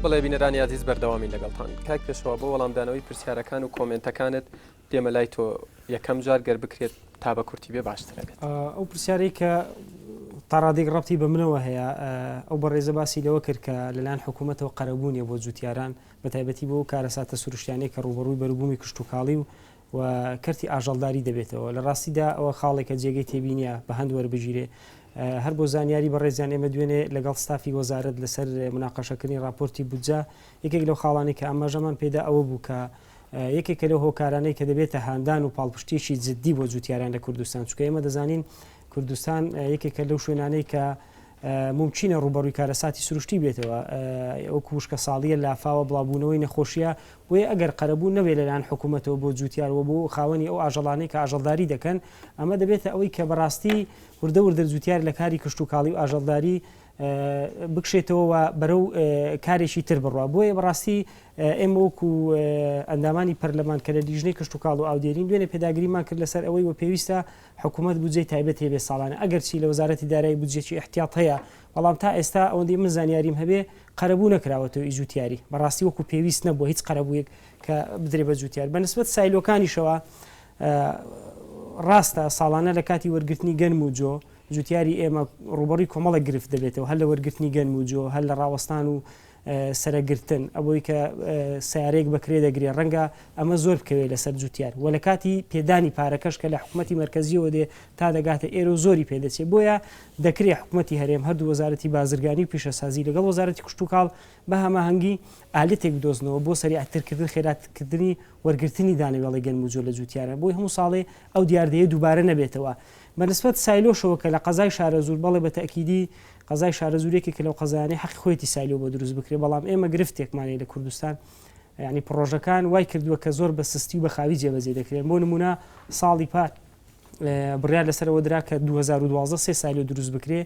بڵێ بینەرانی عزیز بەردەوامی لەگەڵتان کاک پێشەوە بۆ وەڵامدانەوەی پرسیارەکان و کۆمنتەکانت دێمە لای تۆ یەکەم جار گەر بکرێت تا بە کورتی بێ باشترەکەت ئەو پرسیاری کە تاڕادێک ڕەتی بە منەوە هەیە ئەو بە ڕێزە باسی لەوە کرد کە لەلاەن حکوومەتەوە قەرەبوونیە بۆ جوتیاران بە تایبەتی بۆ کارەساتە سروشتیانەی کە ڕوبەڕووی بەروبوومی کشتتوکاڵی و و کەرتی ئاژەڵداری دەبێتەوە لە ڕاستیدا ئەوە خاڵێکە جێگەی تێبینیە بە هەند وەربگیرێ هەر بۆ زانیاری بەڕێزیان ئێمە دوێنێ لەگەڵ ستافی وەزارەت لەسەر مناقەشەکردنی ڕاپۆرتی بودجە یەکێک لەو خاڵانی کە ئاماژەمان پێدا ئەوە بوو کە یەکێکە لەو هۆکارانەی کە دەبێتە هاندان و پاڵپشتیشی جددی بۆ جوتیاران لە کوردستان چکە ئێمە دەزانین کوردستان یەکێکە لەو شوێنانەی کە ممچینە ڕوبەڕووی کارەساتی سروشتی بێتەوە ئەو کوشکە ساڵیە لافاوە بڵاوبوونەوەی نەخۆشیە بۆیە ئەگەر قەرەبوو نەوێ لەلاەن حکوومەتەوە بۆ جوتیارەوە بۆ خاوەنی ئەو ئاژەڵانەی کە ئاژەڵداری دەکەن ئەمە دەبێتە ئەوەی کە بەڕاستی وردەور دەرجوتیار لە کاری کشت و کاڵی و ئاژەڵداری بکشێتەوە و بەرەو کارێکی تر بڕە بۆیە بەڕاستی ئێمە وەکو ئەندامانی پەرلەمانکەرە لیژنەی کشت و کاڵ و ئاودێرین دوێنێ پێداگریمان کرد لەسەر ئەوەی و پێویستە حکومەت بودجەی تایبەتی هەبێت ساڵانە، ئەگەرچی لە وەزارەتی دارایی بودجەیەکی ئیحتیاط هەیە، بەڵام تا ئێستا ئەوەندەی من زانیاریم هەبێ قەرەبوو نەکراوەتەوە ئی جووتیاری، بەڕاستی وەکو پێویست نەبووە هیچ قەرەبوویەک کە بدرێ بە جووتیار، بە نسبەت سایلۆکانیشەوە ڕاستە ساڵانە لە کاتی وەرگرتنی گەنم و جۆ جووتیاری ئێمە ڕووبەڕووی کۆمەڵێک گرفت دەبێتەوە هەر لە وەرگرتنی گەنم و جۆ هەر لە ڕاوەستان و سەرەگرتن، ئەوەی کە سەیارەیەک بە کرێ دەگرێ ڕەنگە ئەمە زۆر بکەوێ لەسەر جوتیار وە لە کاتی پێدانی پارەکەش کە لە حکومەتی مەرکەزیەوە دێ تا دەگاتە ئێرە و زۆری پێ دەچێ بۆیە دەکرێ حکومەتی هەرێم هەردوو وەزارەتی بازرگانی و پیشەسازی لەگەڵ وەزارەتی کشتوکاڵ بە هەماهەنگی ئالەتێک بدۆزنەوە بۆ سەریعترکردن خێراتکردنی وەرگرتنی دانەوێڵەی گەنم و جۆ لە جوتیارە بۆی هەموو ساڵێ ئەو دیاردەیە دووبارە نەبێتەوە بە نسبەت سایلۆشەوە کە لە قەزای شارەزوور بەڵێ بە تەئکیدی قەزای شارەزوور یەکێکە لەو قەزایانەی حەقی خۆیەتی سایلۆ بۆ دروست بکرێت، بەڵام ئێمە گرفتێکمان هەیە لە کوردستان، یانی پڕۆژەکان وای کردووە کە زۆر بە سستی و بە خاوی جێبەجێ دەکرێن، بۆ نموونە ساڵی پار بڕیار لەسەر ئەوە درا کە دوو هەزار و دوازدە سێ سایلۆ دروست بکرێ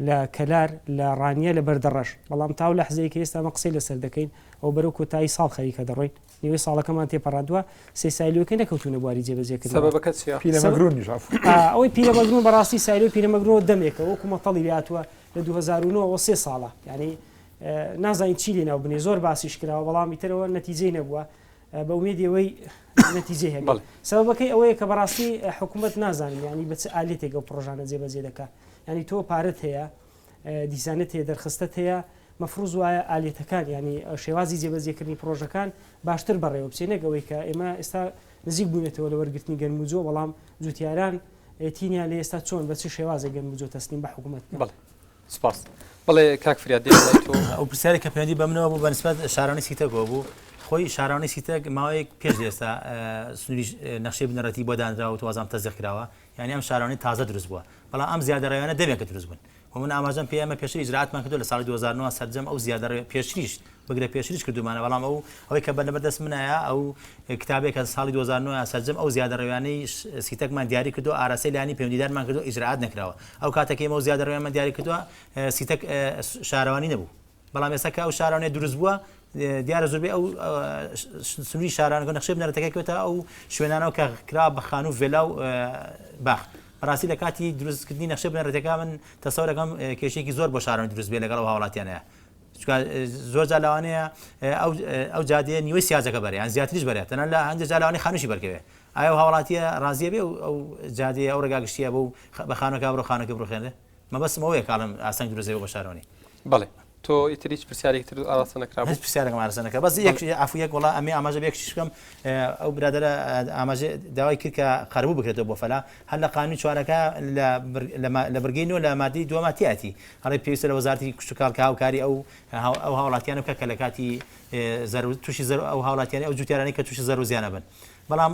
لە کەلار، لە ڕانیە، لە بەردەڕەش، بەڵام تا ئەو لەحزەیەی کە ئێستا ئەمە قسەی لەسەر دەکەین و بەرەو کۆتایی ساڵ خەریکە دەڕۆین، نیوەی ساڵەکەمان تێپەڕاندووە، سێ سایلۆکە نەکەوتوونە بواری جێبەجێکردنەوە. سەبەبەکە چییە؟ پیرەمەگرونیش عەفوو. ئەوەی پیرەمەگرون بەڕاستی سایلۆی پیرەمەگرونەوە دەمێکە وەکو مەتەڵی لێهاتووە لە دوو هەزار و نۆ وە سێ ساڵە یانی نازانین چی لێ ناو بنێ زۆر باسیش کراوە بەڵام ئیتر ئەوە نەتیجەی نەبووە بە ئومێدی ئەوەی نەتیجەی هەبێ سەبەبەکەی ئەوەیە کە بەڕاستی حکوومەت نازانم یانی بە چ ئالێتێک ئەو پڕۆژانە جێبەجێ دەکا یانی تۆ پارەت هەیە دیزانت هەیە دەرخستەت هەیە مەفروز وایە ئالیەتەکان یانی شێوازی جێبەجێکردنی پرۆژەکان باشتر بەڕێوە بچێ نەک ئەوەی کە ئێمە ئێستا نزیک بوونێتەوە لە وەرگرتنی گەرموجۆ بەڵام جوتیاران تینیا لە ئێستا چۆن بە چ شێوازە گەرموجۆ تەسلیم بە حکوومەت بڵێ سپاس بڵێ کاک فریا دێ ئەو پرسیارێک کە پێوەندی بەمنەوە بوو بەنسبەت شارانی سیتەکۆ بوو خۆی شارانی سیتەک ماوەیەک پێش ئێستا سنووری نەخشەی بنەڕەتی بۆ دانراوە توازان تەزیق کراوە یانی ئەم شارانەی تازە دروست بووە، بەڵام ئەم زیادەڕەویانە دەمێکە دروست بوون و من ئاماژەم پێیە ئێمە پێشتر ئیجرائاتمان کردووە لە ساڵی دوو هەزار و نۆ سەرجەم ئەو زیادەڕەویە پێشتریش بگرە پێشتریش کردوومانە بەڵام ئەو ئەوەی کە بەلەبەر دەست منایە ئەو کتابەی کە ساڵی دوو هەزار و نۆ سەرجەم ئەو زیادەڕەویانەی سیتەکمان دیاری کردووە ئاراستەی لایەنی پەیوەندیدارمان کردووە ئیجرائات نەکراوە ئەو کاتە کە ئێمە ئەو زیادەڕەویانمان دیاری کردووە سیتەک شارەوانی نەبوو بەڵام ئێستا کە ئەو شارانەیە دروست بووە دیارە زۆربەی ئەو سنووری شارانەکە نەخشەی بنەرەتەکە کەوتە ئەو شوێنانەوە کە کرا بە خانوو ڤێلا و باخ بەڕاستی لە کاتی دروستکردنی نەخشە بنەرەتەکە من تەسەورەکەم کێشێکی زۆر بۆ شاران دروست بێ لەگەڵ هاوڵاتیانەیە زۆر جالاوانەیە ئەو جادەیە نیوەی سیاجەکە بەریان زیاتریش بەرێت تەنە لە هەندێک جالاوانی خانوشی بەرکەوێ ئایا هاوڵاتیە ڕازیە بێ ئەو جادەیە ئەو ڕێگا گشتیە بۆ بە خانەکە بڕۆ خانەکە بڕخێنێ مەبەستم ئەوەیە کە ئەڵێم ئاستەنگ دروست دەبێت بۆ بەشداربوونی. بەڵێ. تۆ ئیتر هیچ پرسیارێکی ترت ئاراستە نەکرابوو؟ هیچ پرسیارێکم ئاراستە نەکرا بەس یەک عەفو یەک وەڵا ئەمێ ئاماژە بە یەک شتیش بکەم ئەو برادەرە ئاماژە داوای کرد کە قەرەبوو بکرێتەوە بۆ فەلا هەر لە قانوونی چوارەکە لە لە بڕگەی نۆ لە مادەی دووەما تیاتی ئەڵێ پێویستە لە وەزارەتی کشتوکاڵ کە هاوکاری ئەو ئەو هاوڵاتییانە بکات کە لە کاتی زەرو تووشی زەرو ئەو هاوڵاتییانە ئەو جووتیارانەی کە تووشی زەرو زیانە بن بەڵام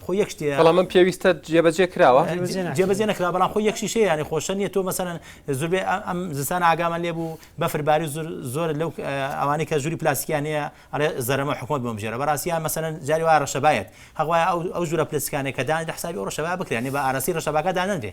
خۆ یەک شتێ بەڵام من پێویستە جێبەجێ کراوە جێبەجێ نکرا بەڵام خۆ یەک شیشەیە ینی خۆشە نیە تۆ مەسەن زوربێ ئەم زستان ئاگامە لێ بوو بەفرباری زۆر لەو ئەوانی کە ژووری پلاسیکیانەیە ئەڵێ زەرمە حکومت بۆم ژێرە بەڕاستیان مەسەن جاری وا ڕەشەبایەت هەغوای ئەو ئەو ژورە پلسکانێک کە دانی حسابی ئەو ڕەشەبا بکرێنی بە ئارسی ڕەشەباکە دانەنرێ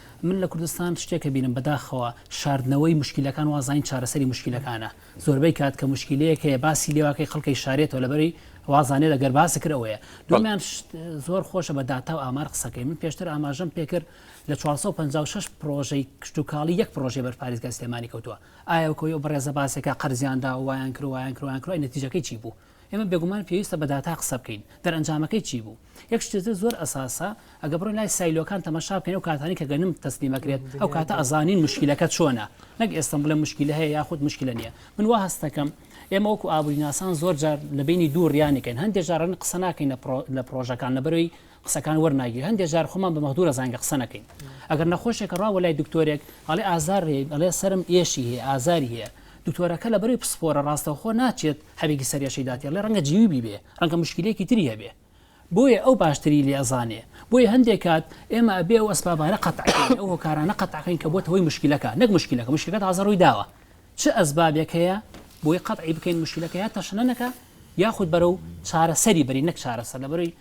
من لە کوردستان شتێک ئەبینم بەداخەوە شاردنەوەی موشکیلەکان واز زانین چارەسەری موشکیلەکانە زۆربەی کات کە موشکیلەیەک هەیە باسی لێواکەی خەڵکەی شارێتەوە لەبەری واز زانێت ئەگەر باسی کرد ئەوەیە بەڵێ دومیان شت زۆر خۆشە بە داتا و ئامار قسەکەی من پێشتر ئاماژەم پێکرد لە 456 پڕۆژەی کشتوکاڵی یەک پڕۆژەی بەر پاریزگای سلێمانی کەوتووە ئایا وەکۆی ئەو بەڕێزە باسێکە قەرزیان داوە وایان کرد و وایان کرد و وایان کرد ئەی نەتیجەکەی چی بوو ئێمە بێگومان پێویستە بە داتا قسە بکەین. دەرئەنجامەکەی چی بوو؟ یەک شتی تر زۆر ئەساسە، ئەگە بڕۆین لای سایلۆکان تەماشا بکەین ئەو کاتانەی کە گەنم تەسلیم ئەکرێت، ئەو کاتە ئەزانین موشکیلەکە چۆنە، نەک ئێستم بڵێم موشکیلە هەیە یاخود موشکیلە نییە. من وا هەست دەکەم ئێمە وەکو ئابووریناسان زۆر جار لە بینی دوو ڕیانێکین، هەندێک جار ڕەنگە قسە ناکەین لە پڕۆژەکان لەبەرەوەی قسەکان وەرناگیرێ هەندێ جار خۆمان بە مەغدورە زانگە قسە نەکەین ئەگەر نەخۆشێکە ڕاوە لای دکتۆرێک ئەڵێ ئازار هەیە ئەڵێ سرم ئێشی هەیە ئازاری هەیە دکتۆرەکە لە بەری پسپۆرە ڕاستەوخۆ ناچێت هەرێکی سەرێشەی داتێ لێ ڕەنگە جیوی بیبێ ڕەنگە مشکلێکی تری هەبێ بۆیە ئەو باشتری لێ ئەزانێ بۆیە هەندێک کات ئێمە ئەبێ و ئەسبابانە قەتعکەین ئەو هۆکارانە قەتعکەین کە بۆتەوەی مشکلەکە نەک مشکلەکە مشکلەکە تازە ڕووی داوە چ ئەسبابێک هەیە بۆی قەتعی بکەین مشکلەکە یا تەشنەکە یاخود بەرە و چارەسەری بری نەک چارەسەر لە بەروی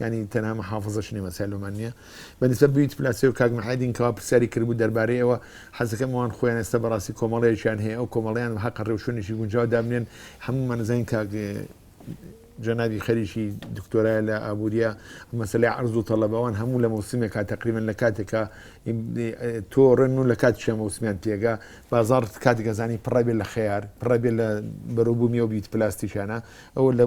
یانی تەنها محافظەش نیمە چال بەمان نیە بە نسبەت بوی تپلاسێ و کاک محێدین کەوا پرسیاری کردبوو دەربارەی ئەوە حەزەکەم ئەوان خۆیان ئێستا بەڕاستی کۆمەڵەیەکیان هەیە ئەو کۆمەڵەیان بە حەقە ڕێوشوێنێکی گونجاو دابنێن هەموومان نزانین کاک جەنابی خەریکی دکتۆرای لە ئابووریە مەسلەی عرض و تەڵەب ئەوان هەموو لە مەوسمێکا تقریبن لە کاتێکا تۆ ڕێن و لە کات شە مەوسمیان تێگا بازار کاتگەزانی پڕێ لە خەیار پڕێ لە بەرەبوومی و بیت پلاستیکانە ئەوە لە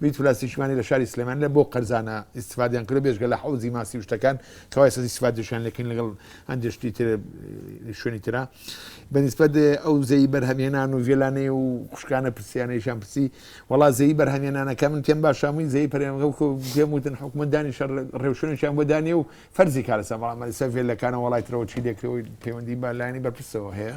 بریت پلاستیکیمانی لە شاری سلێمانی لە بۆ قەرزانە ئیستفادەیان کردووە بێجگە لە حەوزی ماسی و شتەکان کەوا ئێستا ئیستفادەشیان لێ کەین لەگەڵ هەندێک شتی تر شوێنی ترا بەنسبەت ئەو زەی بەرهەمێنان و ڤێلانەی و خوشکانە پرسیانەیشان پرسی وڵا زەی بەرهەمێنانەکە من پێم باشامووی زەی پەرێنگە و پێم وتن حکومە دانی شەڕ ڕێوشوێنێکیان بۆ دانێ و فەرزی کارەسە بەڵام مەسەفێ لەکانە وڵای ترەوە چی لێکرەوەی پەیوەندی بالایانی بەرپرسەوە هەیە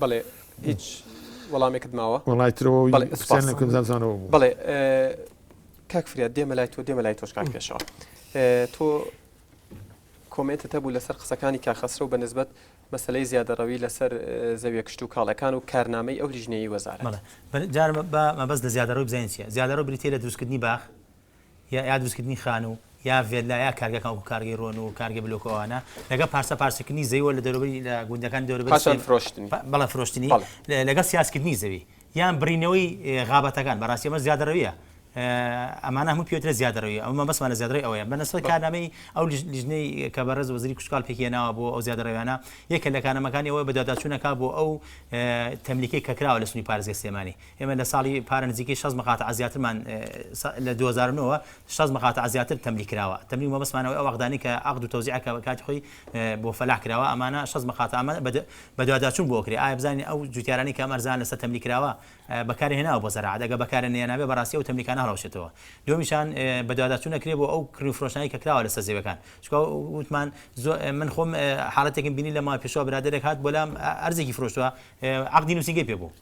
بەڵێ هیچ وەڵامێکت ماوە وڵای ترەوە بزانەوە بوو بڵێ کاک فریا دێمە لای تۆ دێمە لای تۆش کاک پێشەوە تۆ کۆمنتت هەبوو لەسەر قسەکانی کاخەسرە و بە نسبت مەسلەی زیادەڕەوی لەسەر زەویە کشت و کاڵەکان و کارنامەی ئەو لیژنەی وەزارە جارمە بە مەبەست لە زیادەڕۆی بزانین چیە زیادەڕۆ بریتە لە دروستکردنی باخ یا دروستکردنی خانوو یا ڤێللا یا کارگەکان وەکو کارگەی رۆن و کارگەی بلۆک و ئەوانە لەگەڵ پارچە پارچەکردنی زەویەوە لە دەوروبەری لە گوندەکانی دەوروبەری سوێن پاشان فرۆشتنی بەڵێ فرۆشتنی بەڵێ. لەگەڵ سیاسکردنی زەوی یان بڕینەوەی غابەتەکان بەڕاستی ئەمە زیادەڕەویە ئەمانە هەمووی پێوترێ زیادەڕەوی ئەمە مەبەستمان لە زیادەڕەوی ئەوەیە بە نەسبەت بەڵێ. کارنامەی ئەو لیژنەی کە بەڕێز وەزیری کشتوکاڵ پێکیهێناوە بۆ ئەو زیادەڕەویانە یەکێ لە کارنامەکانی ئەوەیە بەدواداچوون ئەکا بۆ ئەو تەملیکەی کە کراوە لە سنووری پارێزگای سلێمانی ئێمە لە ساڵی پار نزیکەی شەست مقاطعە زیاترمان لە دوو هەزار و نۆ وە شەست مقاطعە زیاتر تەملی کراوە تەملی و مەبەستمان ئەوەی ئەو عەقدانەی کە عەقد و تەوزیعە کە کاتی خۆی بۆ فەلاح کراوە ئەمانە شەست مقاطعە ئەمانە بە بەدواداچوون بۆ ئەکرێ ئایا بزانین ئەو جوتیارانەی کە ئەم ئەرزانە لەسەر تەملی کراوە بەکاری هێناوە بۆ زەراعەت ئەگەر بەکاری نەهێنابێ بەڕاستی ئەو تەملیکانە هەڵئەوشێتەوە دووەمیشان بەدواداچوون ئەکرێ بۆ ئەو کڕین و فرۆشتنانەی کە کراوە لەسەر زەویەکان چونکە وتمان زۆر من خۆم حاڵەتێکم بینی لە ماوەی پێشووە برادەرێک هات بۆ لام ئەرزێکی فرۆشتووە عەقدی نووسینگەی پێ بوو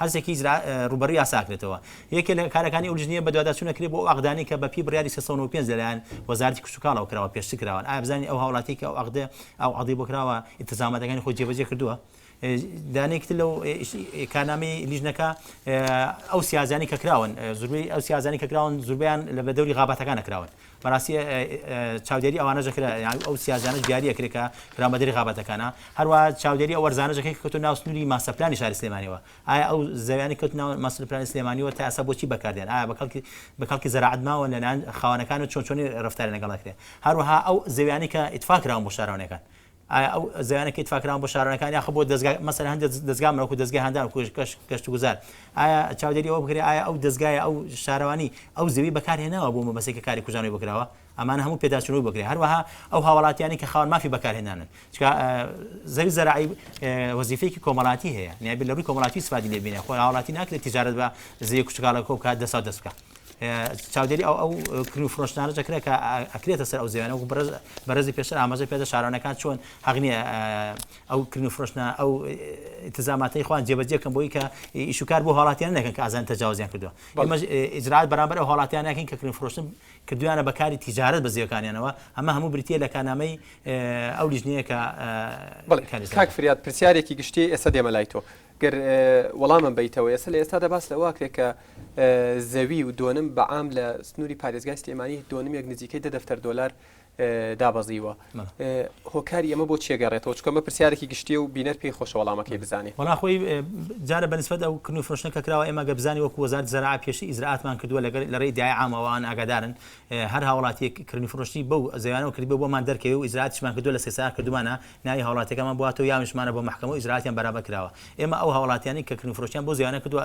هەرسێکی ئیجرا ڕووبەڕووی یاسا ئەکرێتەوە. یەکێ لە کارەکانی ئەو لیژنەیە بەدواداچوون ئەکرێ بۆ ئەو عەقدانەی کە بە پێی بڕیاری سێ سەد و نەوەد و پێنج لەلایەن وەزارەتی کشتوکاڵەوە کراوە پێشتر کراون ئایا بزانین ئەو هاوڵاتیەی کە ئەو عەقدە ئەو عەقدەی بۆ کراوە ئیلتزاماتەکانی خۆی جێبەجێ کردووە دانەیەکی تر لەو کارنامەی لیژنەکە ئەو سیازانی کە کراون زوربەی ئەو سیازانی کە کراون زوربەیان لە بە دەوری غاباتەکانە کراون بەراستی چاودێری ئەوانەژە کرا یان ئەو سیاجانەش دیاریە کرێ کە خراومە دەری غابەتەکانە هەروە چاودێری ئەو وەرزانەژە کە کەوتو ناو سنوری ماستەر پلانی شاری سلێمانیەوە ئایا ئەو زەویانەی کەوتو ناو ماستەر پلانی سلێمانیەوە تا ئێستا بۆچی بەکاردێن ئایا بە کەڵکی بە کەڵکی زەراعەت ماون لە لایەن خاوەنەکانەوە چۆن چۆنی رەفتاریان لەگەڵ ئەکرێ هەروەها ئەو زەویانەی کە ئیتفاق کراون بۆ شاراونەکان ئایا ئەو زەویانە کە ئیتفاق کراون بۆ شارانەکان یاخود بۆ دەزگا مەسەلەن هەندێک دەزگا وەکوو دەزگای هاندان و گەشتوگوزار ئایا چاودێری ئەوە بکرێت ئایا ئەو دەزگایە ئەو شارەوانی ئەو زەوی بەکارهێناوە بۆ مەبەستێک کە کاری کوژانەوەی بکراوە ئەمانە هەموو پێداچوونەوەی بکرێت هەروەها ئەو هاوڵاتیانی کە خاوەن مافی بەکارهێنانن چونکە زەوی زەراعی وەزیفەیەکی کۆمەڵاتی هەیە نیابێت لە ڕووی کۆمەڵاتی سوپادی لێ بینێ خۆ هاوڵاتی ناکرێت تجارت بە زەوی کوچکاڵەکە بکات دەسا دەست بکات چاودێری ئەو ئەو کرن و فرۆشتانە دەکرێت کە ئەکرێتە سەر ئەو زیوانە وەکو بەرز بەرزی پێشتر ئاماژە پێدە شارانەکان چۆن هەغنیە ئەو کرن و فرۆشتە ئەو تزاماتی خوان جێبەجێکەم بۆی کە ئیشوکار بۆ هاڵاتیان نەکەن کە ئازان تەجاوزیان کردووە ئەمەش ئجرات بەرامبەر ئەو هاڵاتیانەکەین کە کرن فرۆشتن کردویانە بەکاری تیجارت بە زیەکانیانەوە ئەمە هەموو بریتە لە کانامەی ئەو لیژنەیە کە کاک فریاد پرسیارێکی گشتی ئێستا دێمە لای تۆ گەر وەڵامم بیتەوە ئێستا لە ئێستادا باس لەوە کرێت کە زەوی و دۆنم بە عام لە سنووری پارێزگای سلێمانی دۆنمێک نزیکەی دە دەفتەر دۆلار دابەزیوە هۆکاری ئەمە بۆ چێگەڕێتەوە چکە مە پرسیارێکی گشتی و بینەر پێی خۆشەوەڵامەکەی بزانێت وڵاخۆی جارە بەنسبەت ئەو کن و فرۆشتە کە کراوە ئێمە گەبزانی وەکو وەزار زەرا پێشی ئیزراتمان کردووە لەگەر لە ڕێی دیای ئاماوان ئاگادارن هەر هاوڵاتیەک کردن فرۆشتی بەو زیانەوە کرد بۆمان دەرکەوێ و ئیزراتمان کردو لە سێسار کردومانە ناوی هاوڵاتەکەمان بواتەوە یاویشمانە بۆ محکمە و ئیزراتیان بەرابە کراوە ئێمە ئەو هاوڵاتیانی کە کن فرۆشتیان بۆ زیانە کردووە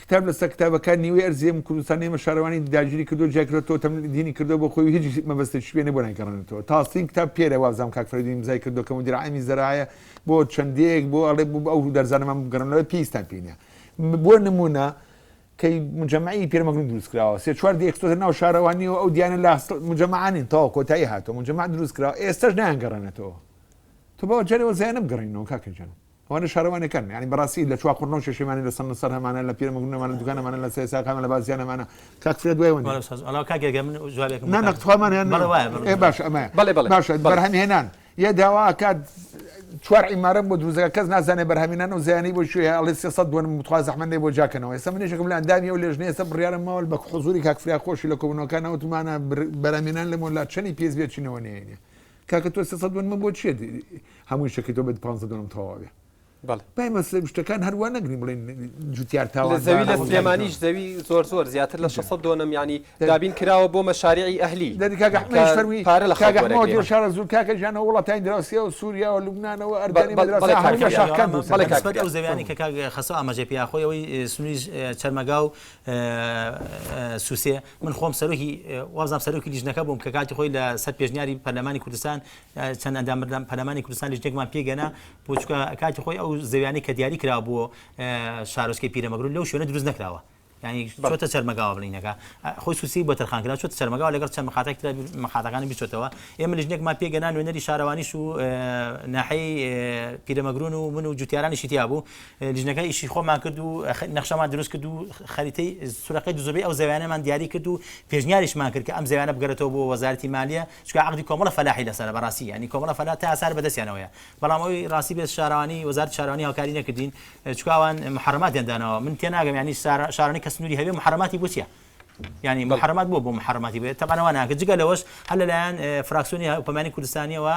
کتاب لەسەر کتابە کار نیوەی ئەرزی ئەم کوردستانە ئێمە شارەوانی داگیری کردوە جیای کردوە تۆتەم دینی کردوە بۆ خۆی و هیچ مەبەستێکیش پێ نیە بۆ نایگەڕێنێتەوە تااستین کتاب پێرە وابزانم کاک فریدون ئیمزای کردوە کە مدیر عامی زەرایە بۆ چەند دێیەک بۆ ئەڵێ بۆ ئەو دەرزانەمان بگەڕێنەوە پێویستان پێ نیە بۆ نمونە کەی مجمعی پیرمەگرون دروست کراوە سێ چوار دێ خستۆتە ناو شارەوانی و ئەو دیانە لە مجمعانین تەواو کۆتایی هاتەوە مجمع دروست کراوە ئێستاش نایانگەڕێنێتەوە تو بەوە جارێ وەزایانە بگەڕێنەوە کاکە جان ئەوانە شارەوانەکان یانی بەڕاستی لە چوا قوڕنەو شەشیمانە لە سەنە سەر هەمانە لە پیرە مەگرونە مانە دوکانە مانە لە سێسا قامە لە بازیانە مانە کاک فرێ دوای وەنی بەڵێ ساز ئەڵا کاک گەگە من جواب یەکم نانە تخوامان هێن بەڵێ وایە بەڵێ ئێ باش ئەمە بەڵێ بەڵێ باشە بەڵێ. بەرهەم هێنان یە داوا کات چوار عیمارە بۆ دروزەکە کەس نازانێ بەرهەمینان و زیانی بۆ شوێ ئەڵێ سێ سەد دوەن متخوا زەحمەندێ بۆ جاکەنەوە ئێستا من یەکێکم لە ئەندامی و لێژنەیە سە بڕیارم ماوە بە حضوری کاک فریا خۆشی لە کۆبوونەوەکانەوە تومانە بەرهەمینان لەمە لا چەنی پێز بێچینەوە نێنێ کاکە تۆ سێ سەد دۆن من بۆ چێ هەمووی شەکەی تۆ بێت پ دۆنم تەواوێ بەڵێ پای مەسە شتەکان هەروە نەگری بڵێن جوتیار تاوە زەوی لە سلێمانیش زەوی زۆر زۆر زیاتر لە 600 دۆنم ینی دابین کراوە بۆ مەشارعی ئەهلی دەکگەحمەشەروی پارە لە خاگەڕەوە شارە زور کاکە ژانە وڵاتانی دراوسیا و سووریا و لوبنانەوە ئەردانی بەڵێ ئەو زەویانی کە کاگە خەسە ئاماژە پیاخۆیەوەی سنووری چەرمەگا و سووسێ من خۆم سەرۆکی وابزانم سەرۆکی لیژنەکە بووم کە کاتی خۆی لە سەر پێشنیاری پەرلەمانی کوردستان چەند ئەندام پەرلەمانی کوردستان لیژنێکمان پێگەنا بۆ چونکە کاتی خۆی ئەو زەویانەی کە دیاری کرا بۆ شارۆچکەی پیرەمەگرو لەو شوێنە دروست نەکراوە یعنی چۆتە چەرمەگاوە بڵینەکە خۆی سوسی بۆ تەرخان کرا چۆتە چەرمەگاوە لەگەڵ چەند مخاتێک ترە مخاتەکانی بیچێتەوە ئێمە لیژنێکمان پێگەنا نوێنەری شارەوانیش و ناحەی پیرەمەگرون و من و جوتیارانیشی تیا بوو لیژنەکە ئیشی خۆمان کرد و نەخشەمان دروست کرد و خەریتەی سورەکەی دوزۆبی ئەو زەویانەمان دیاری کرد و پێشنیاریشمان کرد کە ئەم زەویانە بگەرێتەوە بۆ وەزارەتی مالیە چکە عقدی کۆمەڵە فەلاحی لەسەرە بەڕاستی یعنی کۆمەڵە فەلا تا ئاسار بەدەستیانەوەیە بەڵام ئەوی ڕاستی بێت شارەوانی وەزارەت شارەوانی هاوکاری نەکردین چکاوان محرماتیان داناوە من تێناگەم یعنی شارانی کە سنووری هەبێ محرماتی بۆ چیە یانی موحەرەمات بووە بۆ موحەرەماتی بێت تەبعەن ئەوە ناکرێت جگە لەوەش هەر لەلایەن فراکسیۆنی هەرێمی کوردستانیەوە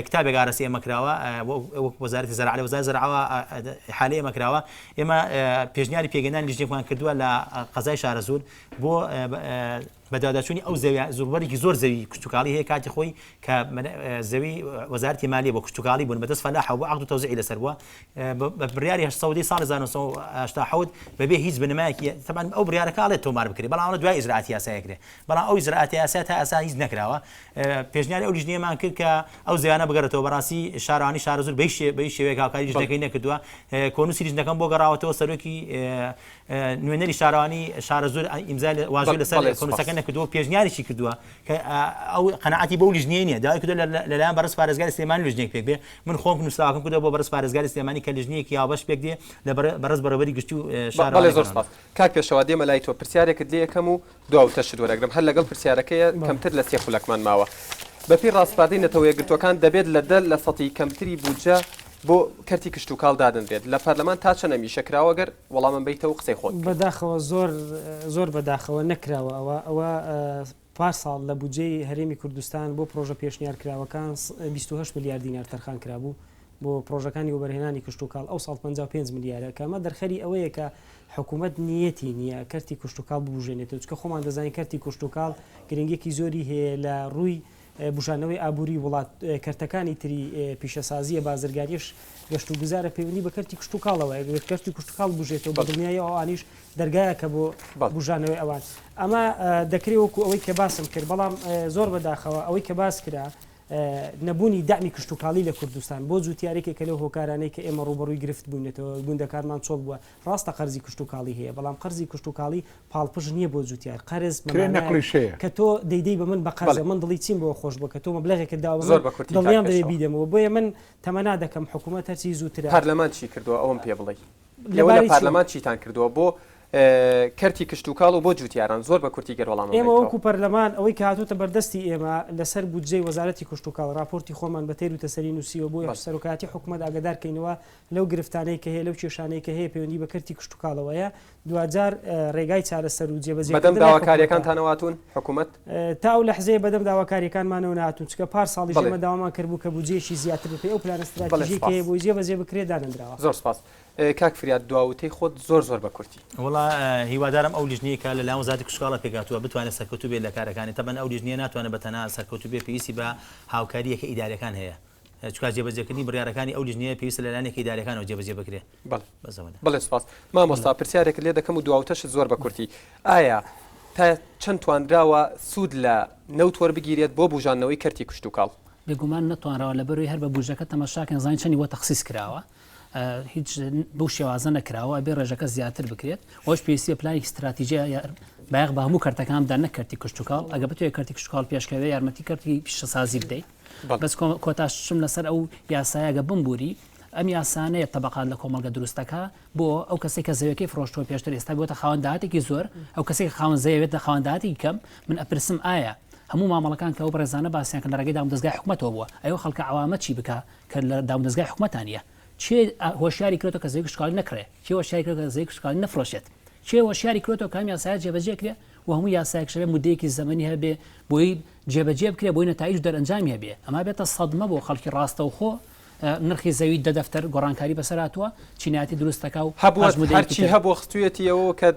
کتابێک ئارەستی ئێمە کراوە وەک وەزارەتی زەراعە لە وەزارەتی زەراعەوە ئیحالەی ئێمە کراوە ئێمە پێشنیاری پێگەیاندنی لیژنێکمان کردووە لە قەزای شارەزوور بۆ بەدواداچوونی ئەو زەوی زۆربەرێکی زۆر زەوی کشتتوکاڵی هەیە کاتی خۆی کە زەوی وەزارتی مالیە بۆ کشتتوکاڵی بوون بەدەست فەلاح بۆ عقد تۆزیعی لەسەر بووە بە بڕیاری هەشت سەدەی ساڵی هەزار و نۆ سەد و هەشتا و حەوت بەبێ هیچ بنەمایەکی تەبان ئەو بڕیارەکە ئەڵێت تۆمار بکرێت بەڵام ئەوە دوای ئیجرائاتی یاسایی کرێ بەڵام ئەو ئیجرائاتی یاسای تا ئێستا هیچ نەکراوە پێشنیاری ئەو لیژنەیەمان کرد کە ئەو زەویانە بگەڕێتەوە بەڕاستی شارەوانی شارەزوور بە هیچ بە هیچ شێوەیەک هاوکاری لیژنەکەی نەکردووە کۆنووسی لیژنەکەم بۆ گەڕاوەتەوە سەرۆکی نوێنەری شارەوانی شارەزوور ئیمزای واژۆی لەسەر کۆنووسەکە نەکردووە پێشنیاریشی کردووە کە ئەو قەناعەتی بەو لیژنەیە نییە، داوای کردووە لە لەلایەن بەڕێز پارێزگاری سلێمانی لیژنەیەک پێک بێت، من خۆم نووسراوەکەم کردووە بۆ بەڕێز پارێزگاری سلێمانی کە لیژنەیەکی هاوبەش پێک دێ لە بەڕێز بەڕێوەبەری گشتی و شارەوانی بەڵێ زۆر گەڕەک. سپاس کاک پێشەوا دێمە لای تۆ پرسیارێکت لێ ئەکەم و دوا وتەشت وەرەگرم هەر لەگەڵ پرسیارەکەیە کەمتر لە سێ خولەکمان ماوە بەپێی ڕاسپاردەی نەتەوەیەکگرتووەکان دەبێت لە دە لەسەتی کەمتری بودجە بۆ کەرتی کشتوکاڵ دادەنرێت لە پەرلەمان تا چەنە میشە کراوە گەر وەڵامم بەیتەوە قسەی خۆت بکەین. بەداخەوە زۆر زۆر بەداخەوە نەکراوە ئەوە ئەوە پار ساڵ لە بودجەی هەرێمی کوردستان بۆ پرۆژە پێشنیار کراوەکان بیست و هەشت ملیار دینار تەرخان کرابوو بۆ پرۆژەکانی وەبەرهێنانی کشتوکاڵ ئەو ساڵ پەنجا و پێنج ملیارە کە ئەمە دەرخەری ئەوەیە کە حکوومەت نیەتی نییە کەرتی کشتوکاڵ ببوژێنێتەوە چونکە خۆمان دەزانین کەرتی کشتوکاڵ گرنگێکی زۆری هەیە لە ڕووی بوژانەوەی ئابووری وڵات، کەرتەکانی تری پیشەسازییە بازرگانیش گەشتوگوزارە پەیوەندی بە کەرتی کشتوکاڵەوە یەک کەرتی کشتوکاڵ بژێتەوە بە دڵنیایی ئەوانیش دەرگایە کە بۆ بژانەوەی ئەوان ئەمە دەکرێت وەکو ئەوەی کە باسم کرد بەڵام زۆر بەداخەوە ئەوەی کە باس کرا نەبوونی دامی کشتتوکاڵی لە کوردستان بۆ جووتارێکی کە لەو هۆکارانەی کە ئێمە ڕوبەڕووی گرفت بوونێتەوە گوندەکانمان چۆڵ بووە ڕاستە قەرزی کشتتوکاڵی هەیە بەڵام قەرزی کشتتوکاڵی پاڵپشت نیە بۆ جوتیار قەرز کرێ مەمانایەک نەقڵی شێیە. کە تۆ دەیدەی بە من بە قەرزە بەڵێ. من دڵی چیم بەوە خۆش بووە کە تۆ مەبلەغێکت داوە بە زۆر من بە کورتی کاک دڵنیام دەبێ پێشڕەو. بیدەمەوە بۆیە من تەمەنا دەکەم حکوومەت هەرچی زووترە پەرلەمان چی کردووە ئەوەم پێ بڵی لە ئێوە لە باری چی؟ پارلەمان چیتان کردووە بۆ کەرتی کشتوکاڵ و بۆ جوتیاران زۆر بە کورتی گەر وەڵامم ئێمە بدەیتەوە. وەکوو پەرلەمان ئەوەی کە هاتۆتە بەردەستی ئێمە لەسەر بودجەی وەزارەتی کشتوکاڵ ڕاپۆرتی خۆمان بە تێروتەسەلی نووسیوە بۆ بەڵێ. سەرۆکایەتی حکوومەت ئاگەدار کەینەوە لەو گرفتانەی کە هەیە، لەو کێشانەی کە هەیە پەیوەندی بە کەرتی کشتوکاڵەوە هەیە، دواجار ڕێگای چارەسەر و جێبەجێکردن لای حکومەتە. بەدەم داواکارییەکانتانەوە هاتوون؟ حکومەت؟ تا ئەو لەحزەیە بەدەم داواکارییەکانمانەوە نەهاتوون، چونکە پار ساڵیش ئێمە داوامان کردبوو کە بودجەیەکی زیاتر بەپێی ئەو پلانە ستراتیژییەی کە هەیە بۆی جێبەجێ بکرێت دانەنراوە. زۆر سپاس. کاک فریاد دوا وتەی خۆت زۆر زۆر بە کورتی. وەڵا هیوادارم ئەو لیژنەی کە لە لایەن وەزارەتی کشتوکاڵە پێکهاتووە بتوانێت سەرکەوتوو بێت لە کارەکانی، تەبەن ئەو لیژنەیە ناتوانێت بە تەنها سەرکەوتوو بێت پێویستی بە هاوکارییەکە ئیدارییەکان هەیە. چکار جێبەجێکردنی بڕیارەکانی ئەو لیژنەیە پێویستە لەلایەن یەکە ئیدارییەکانەوە جێبەجێ بکرێت بەڵێ بەزەوەنە بڵێ سپاس مامۆستا پرسیارێکت لێ دەکەم و دواوتەشت زۆر بە کورتی ئایا تا چەند توانراوە سوود لە نەوت وەربگیرێت بۆ بوژانەوەی کەرتی کشت و کاڵ بێگومان نەتوانراوە لە بەروی هەر بە بوجەکە تەماشاکەن زانین چەنی وە تەخصیص کراوە هیچ بەو شێوازە نەکراوە بێ ڕێژەکە زیاتر بکرێت وەش پێویستە پلانی استراتیجی بایەق بە هەموو کەرتەکاندا نەکەرتی کشتتوکڵ ئەگە بتوێت کەرتی کشتتوکڵ پێشکەوێ یارمەتی کەرتی پیشەسازی بدەیت بەس کۆتاش چم لەسەر ئەو یاسایە گە بمبووری ئەم یاسانەیە تەبقات لە کۆمەڵگە دروستەکە بۆ ئەو کەسی کە زەوەکەی فرۆشتۆ پێشتر ئێستا بۆتە خاوەنداتێکی زۆر ئەو کەسی خاوەن زەوێت لە خاوەنداتی کەم من ئەپرسم ئایا هەموو مامەڵەکان کە ئەو بەڕێزانە باسییان کە لە ڕێگەی دام دەستگای حکومەتەوە بووە ئەو خەڵکە عوامە چی بکە کە لە دام دەستگای حکومەتانە چێ هۆشیاری کرێتەوە کە زێک شکال نەکرێ چێ هۆشیاری کرێت کە زێک شکال نەفرۆشێت چێ هۆشیاری کرێتەوە کامی یاسایە جێبەجێ کرێ و هەموو یاسایەک شەبێ مدەیەکی زەمەنی هەبێ بۆی جێبەجێ بکرێت بۆی نەتایج و دەرئەنجامی هەبێت ئەمە بێتە سەدمە بۆ خەڵکی ڕاستەوخۆ نرخی زەوی دە دەفتەر گۆڕانکاری بەسەر هاتووە چینایەتی دروست دەکا و هەبووەرچی هەبوو خستویەتیەوە کە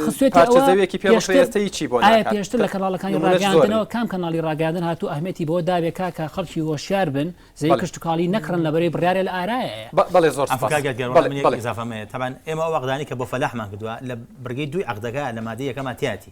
خستێتەوەێکی پێشتەیەی بۆ پێشتر لە کەناڵەکانی ڕاگەاندنەوە کام کەناڵی ڕاگەاندن هاتو ئەهمێتی بۆ داوێک کاکە خەڵکی هۆشیار بن زەوی کشتتوکاڵی نەکڕن لەبەری بڕارێ لە ئارایە بەڵێ زۆر تەبان ئێمە وەغدانی کە بۆ فەلاحمان کردووە لە بڕگەی دوی عقدەکە لە مادەیەکەماتیاتی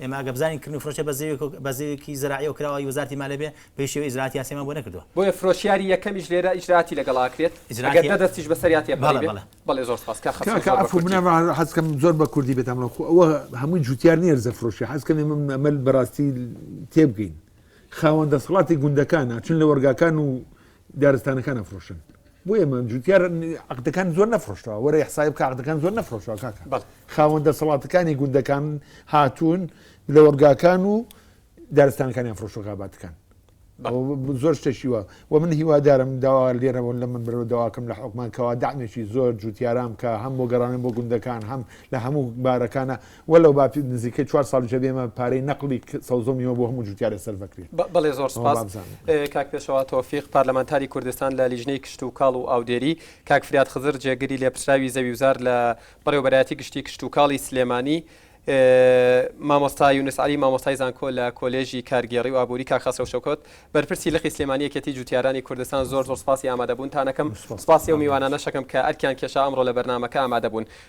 ئێمە ئەگەر بزانین کردنی فرۆشە بە زێوێکی زەراعیەوە کراوە ی وەزارەتی مالیە بێ بەهیچ شێوەیەک ئیجرائاتی یاسایمان بۆ نەکردووە. بۆیە فرۆشیاری یەکەمیش لێرە ئیجرائاتی لەگەڵ ئاکرێت ئەگەر دە دەستیش بەسەریا تێپەری بێ. بەڵێ زۆر سپاس کاک خەسرو زۆر بە کوردی. کاکە عەفو من حەزکەم زۆر بە کوردی بێتام بەڵام خۆ ئەوە هەمووی جوتیار نیە ڕزە فرۆشە حەزکەم ئێمە ئەمە بەڕاستی تێبگەین خاوەن دەسەڵاتی گوندەکانە چون لە وەرگاکان و دارستانەکان ئەفرۆشن بۆ ئێمە جوتیار عقدەکان زۆر نەفرۆشتەوە وەرە حسای بکە عقدەکان زۆر نەفرۆشەوە کاکە بەڵێ. خاوەن دەسەڵاتەکانی گوندەکان هاتوون لە وەرگاکان و دارستانەکانیان فرۆشە خاباتەکان بەڵێ. ئەوە ب- زۆر شتێکی وە و من هیوادارم داوا لێرەوە لە من بەرەوە داواکەم لە حکومان کەوا دامێکی زۆر جوتیاران بکە هەم بۆ گەڕانن بۆ گوندەکان هەم لە هەموو بارەکانە وللە با نزیکەی چوار ساڵ جێ بێمە پارەی نەقڵی سەوزە و میوە بۆ هەموو جوتیارێ سەرف ئەکرێ. بەڵێ زۆر سوپاس کاک پێشەوا تۆفیق پارلەمانتاری کوردستان لە لیژنەی کشتوکاڵ و ئاودێری، کاک فرات خزر جێگری لێپرسراوی زەویوزار لە بەڕێوەبەرایەتی گشتی کشتوکاڵی سلێمانی، مامۆستا یونس عەلی مامۆستای زانکۆ لە کۆلێژی کارگێڕی و ئابووری، کاک خەسرەو شەوکەت بەرپرسی لقی سلێمانی یەکێتی جوتیارانی کوردستان زۆر زۆر سوپاسی ئامادەبوونتان ئەکەم، سوپاسی ئەو میوانانەش ئەکەم کە ئەرکیان کێشا ئەمڕۆ لە بەرنامەکە ئامادەبوون.